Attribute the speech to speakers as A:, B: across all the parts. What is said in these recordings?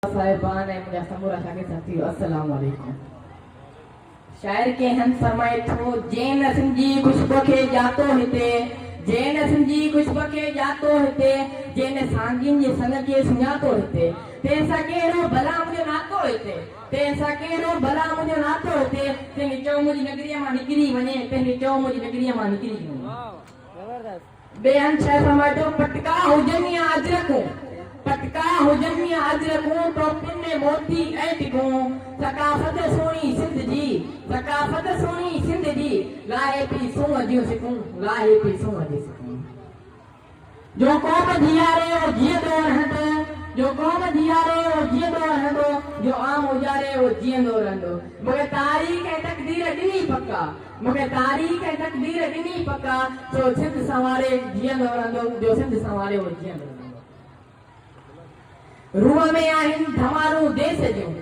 A: صاحبان ۽ منهنجا سمورا شاگرد ساٿيو السلام عليڪم شاعر ڪي هند فرمائي ٿو جنهن نه سنجي خوشبو کي ڄاتو هتي جنهن نه سنجي خوشبو کي ڄاتو هتي جنهن نه سانگين جي سڱ کي سڃاتو هتي تنهن سان ڪهڙو ڀلا منهنجو ناتو هتي تنهن سان ڪهڙو ڀلا منهنجو ناتو هتي تنهن چئو منهنجي نگريء مان نڪري وڃي تنهن چئو منهنجي نگريء مان نڪري وڃي زبردست ٻين ڇهه سميٽو، پٽڪا هجن يا اجرڪون. پٽڪا هجن يا اجرڪون، ٽوپين ۾ موتي ۽ ڊگهون، ثقافت سهڻي سنڌ جي، ثقافت سهڻي سنڌ جي، لاهي پي سونهن جون سڪون، لاهي پي سونهن جون سڪون. جو قوم جيئاري او جيئندو رهندو، جو قوم جيئاري او جيئندو رهندو، جو عام اجاري او جيئندو رهندو، مگر تاريخ ۽ تقدير ڏينهن ئي پڪا، مون کي تاريخ ۽ تقدير ڏني پڪا جو سنڌ سنواري جيئندو رھندو جو سنڌ سنواري اھو جيئندو رھندو روح ۾ آھن ڌمارون ديس جون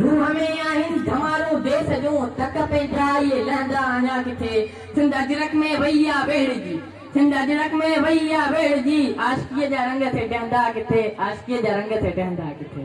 A: روح ۾ آھن ڌمارون ديس جون تڪ پنھنجا اھي لھندا اڃا ڪٿي سنڌ اجرڪ ۾ وئي آ ويھڙجي سنڌ اجرڪ ۾ وئي آ ويھڙجي عاشقي جا رنگ ٿي ڊھندا ڪٿي عاشقي جا رنگ ٿي ڊھندا ڪٿي.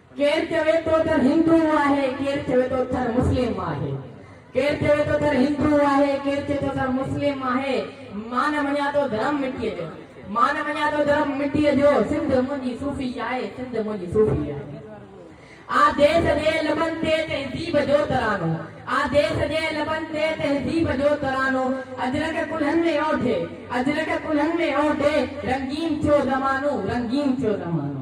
A: ڪير چوي ٿو تھ ھندو آھي، ڪير چوي ٿو تھ مسلم آھي، ڪير چوي ٿو تھ ھندو آھي، ڪير چوي ٿو تھ مسلم آھي، مان مڃان ٿو ڌرم مٽيء جو، مان مڃان ٿو ڌرم مٽيء جو، سنڌ منھنجي صوفي آھي، سنڌ منھنجي صوفي آھي. آ ديس جي لبن تي تھذيب جو ترانو، آ ديس جي لبن تي تھذيب جو ترانو، اجرڪ ڪلھن ۾ اوڍي، اجرڪ ڪلھن ۾ اوڍي، رنگين ٿيو زمانو، رنگين ٿيو زمانو.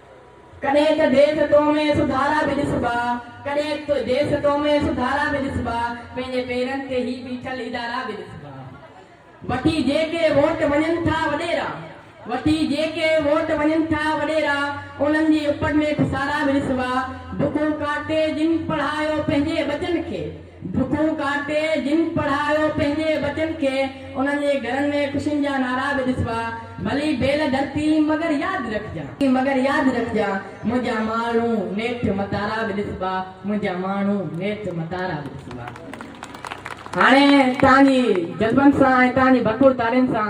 A: ڪڏهن ته ديس تو ۾ سڌارا به ڏسبا، ڪڏهن ته ديس تو ۾ سڌارا به ڏسبا، پنهنجي پيرن تي هي بيٺل ادارا به ڏسبا. وٺي جيڪي ووٽ وڃن ٿا وڏيرا، وٺي جيڪي ووٽ وڃن ٿا وڏيرا، انهن جي اپڙ ۾ پسارا به ڏسبا، بکون ڪاٽي جن پڙهايو پنهنجي ٻچن کي، ڍڪون ڪاٽي جن پڙهايو پنهنجي ٻچن کي انهن جي گهرن ۾ خوشين جا نعرا به ڏسبا ڀلي بيل ڌرتي مگر ياد رکجان. مگر ياد رکجان منهنجا ماڻهو نيٺ متارا به ڏسبا منهنجا ماڻهو نيٺ متارا به ڏسبا هاڻي توهان جي جذبن سان ۽ توهان جي ڀرپور تعليم سان.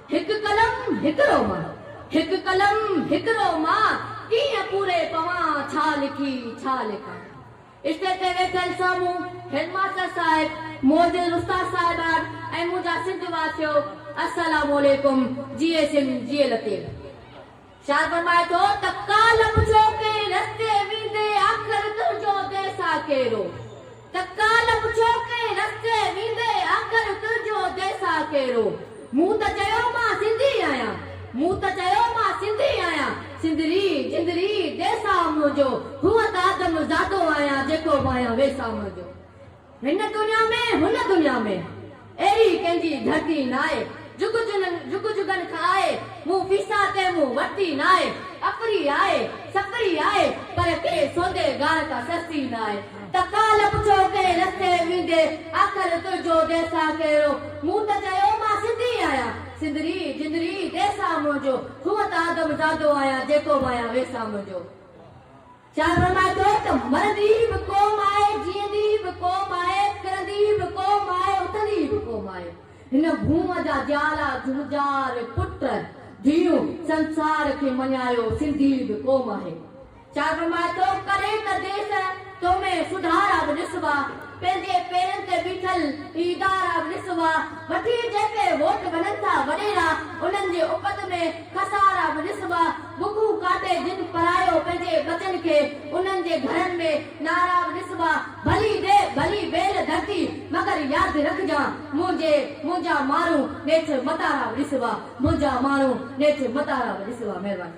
B: هڪ قلم هڪ رو مان، هڪ قلم هڪ رو مان ڪيئن پوري پوان ڇا لکي ڇا لکان. اسٽيج تي ويٺل سامهون هيڊ ماستر صاحب، معزز استاد صاحبان ۽ منهنجا سنڌ واسيو السلام عليڪم جيئي سنڌ جيئي لطيف. شاهه فرمائي ٿو ته ڪالهه پڇو ڪنهن رستي ويندي آخر تنهنجو ديسا ڪهڙو؟ ته ڪالهه پڇو ڪنهن رستي ويندي آخر تنهنجو ديسا ڪهڙو؟ مون ته چيو مان سنڌي آهيان، مون ته چيو مان سنڌي آهيان، سنڌڙي، جندڙي، ديسا منهنجو، هونء ته آدم زادو آهيان، جيڪو به آهيان ويسا منهنجو. هن دنيا ۾، هن دنيا ۾، اهڙي ڪنهن جي ڌرتي ناهي، جڳ جن، جڳ جڳن کان آء، مون فيسا تنهن مون ورتي ناهي، اپري آء، سپري آء، پر ڪنهن سودي گار ڪا سستي ناهي، ته ڪالهه پڇيو ڪنهن رستي ويندي، آخر تنهنجو ديسا ڪهڙو، مون ته چيو مان سنڌي آهيان، سندري، جندري، ديسا منهنجو، هونء ته آدم زادو آهيان، جيڪو وايان ويسا منهنجو. شاهه فرمائي ٿو ته مرندي به قوم آهي، جيئندي به قوم آهي، ڪرندي به قوم آهي، اٿندي به قوم آهي. هن ڀونء جا جيالا، جهونجار، پٽ، ڌيئون، سنسار کي مڃايو، سنڌي به قوم آهي. شاعر فرمائي ٿو، ڪڏهن ته ديس تو ۾ سڌارا به ڏسبا. پنهنجي پيرن تي بيٺل هي ادارا به ڏسبا، وٺي جيڪي ووٽ وڃن ٿا وڏيرا، انهن جي اپت ۾ خسارا به ڏسبا، بکون ڪاٽي جن پرايو پنهنجي ٻچن کي، انهن جي گهرن ۾ نعرا به ڏسبا، ڀلي ڏي ڀلي ٻيل ڌرتي، مگر ياد رکجان منهنجي، منهنجا ماڻهو نيٺ متارا به ڏسبا، منهنجا ماڻهو نيٺ متارا به ڏسبا. مهرباني.